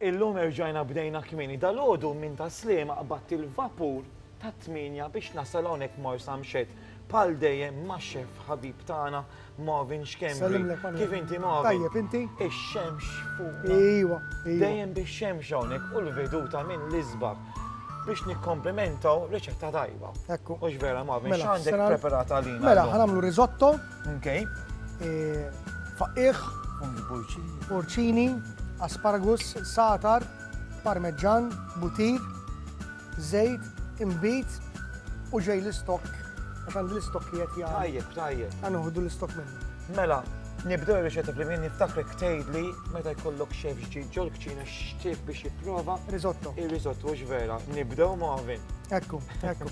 Illum erġajna bdejna kmieni. Dalgħodu minn Tas-Sliema qbadt il-vapur tat-tmienja biex nasal hawnhekk Marsamxett. Bħal dejjem max-xeff ħabib tagħna Marvin Schembri. Kif inti Marvin? Ix-xemx fuqna. Dejjem bix-xemx hawnhekk u l-veduta minn l-isbaħ biex nikkomplimentaw riċetta tajba. Hux vera Marvin? X'għandek preparat għalina? Mela, ħa nagħmlu risotto. Okay. Faqqiħ. Fungi porċini. Porċini, asparagus, satar, parmeġġan, butir, zejt, imbit u ġej l-istok. Għax għandi l-istok li għet jgħal. Tajjeb, tajjeb. Għanuħdu l-istok minnu. Mela, nibdew il-riċetta li minn niftakrek tgħidli meta jkollok xef ġdid ġol kċina x'tib biex jipprova. Risotto. Il-risotto vera, nibdew ma' ovin. Ekku, ekku.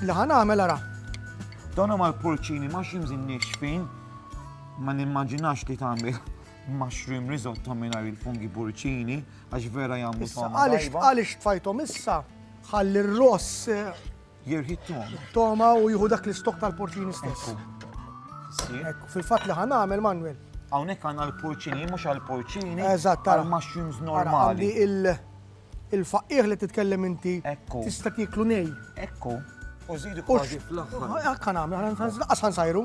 Li ħa nagħmel ara. Donna mal-porċini ma ximżin nixfin ma nimmaġinax li tagħmel mushroom risotto mingħajr il-fungi porċini għax vera jagħmlu Għaliex għaliex tfajthom issa ħalli r-ross eh, Jirħi t-toma. Toma u jieħu dak l-istokk tal-porċini stess. Fil-fatt li ħan għamel, Manuel. Hawnhekk għandna l-porċini, mhux għall-porċini. Eżatt, għal mushrooms normali. Il-faqqieħ li titkellem inti. Ekku. Tista' tieklu nej. Ekku. U żidu kważi fl-aħħar. Ekk għan għamel, għan sajru.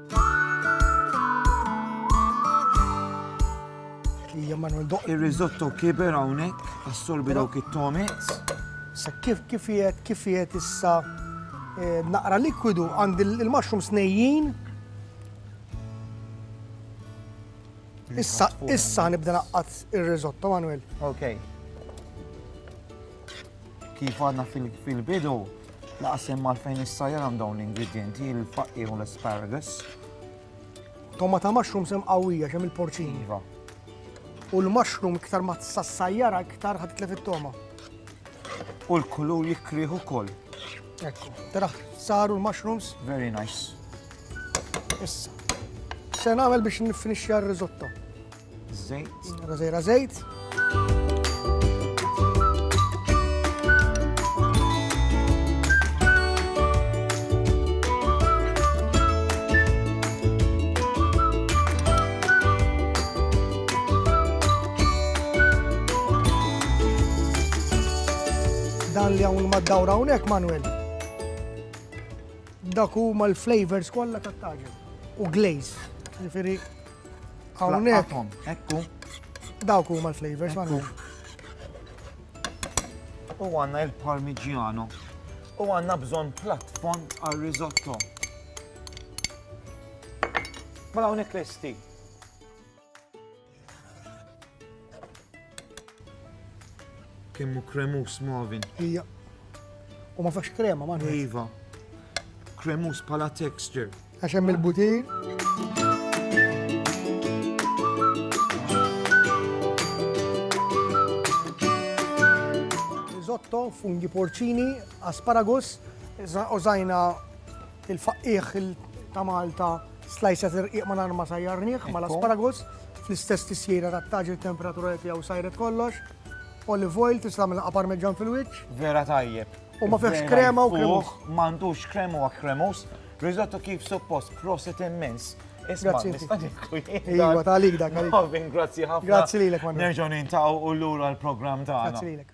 Ija Manuel Doq. Ir-risotto kiber hawnhekk, assorbi dawk it-tomits. Sa kif kif qiegħed kif qiegħed issa eh, naqra likwidu għand il-mushroom snejjin. Issa issa nibda naqqat ir-risotto Manuel. Ok. Kif għadna fil-bidu, Laqas hemm għalfejn issajjar hemm dawn l-ingredjenti, il-faqqi u l-asparagus. Tomata mushroom sem qawwija xem il-porċin. Iva. U l-mushroom iktar ma tsassajjara iktar ħad tlef it-toma. U l-kulur jikrieħu kol. Ekku. Tara, saru l-mushrooms. Very nice. Issa. Se nagħmel biex nifinixxi r-risotto. Żejt. Għażejra żejt. Dan li hawn mad-dawra hawnhekk Manuel dak huma l-flavors kollha tat-taġin u glaze. Ġifieri Hawnhekk. Ekku. Dawk huma l-flavors għandu. U għanna il-parmigiano. U għanna bżon platform għal risotto. Mela hawnhekk lesti. Kemm hu kremus Marvin. Hija. U ma fax krema ma. Iva. Kremus pala texture. Għax hemm il-butin. Risotto, fungi porcini, asparagus, użajna Il-faqqiegħ ta' Malta slajsa tirqiq ma nar ma sajjarnieh ma l-asparagus fl-istess tisjira ta' taġi temperatura li tiegħu sajret kollox. Olive oil tista' tagħmel qapar meġġan fil-wiċċ. Vera tajjeb. U ma fihx krema u kremus. M'għandux krema u kremus. Risotto kif suppost, prosit immens. Grazzi. Iva, ta' għalik dak. Grazzi ħafna. Grazzi lilek, Manu. Nerġgħu nintaw u l-lura l-programm ta' għalik.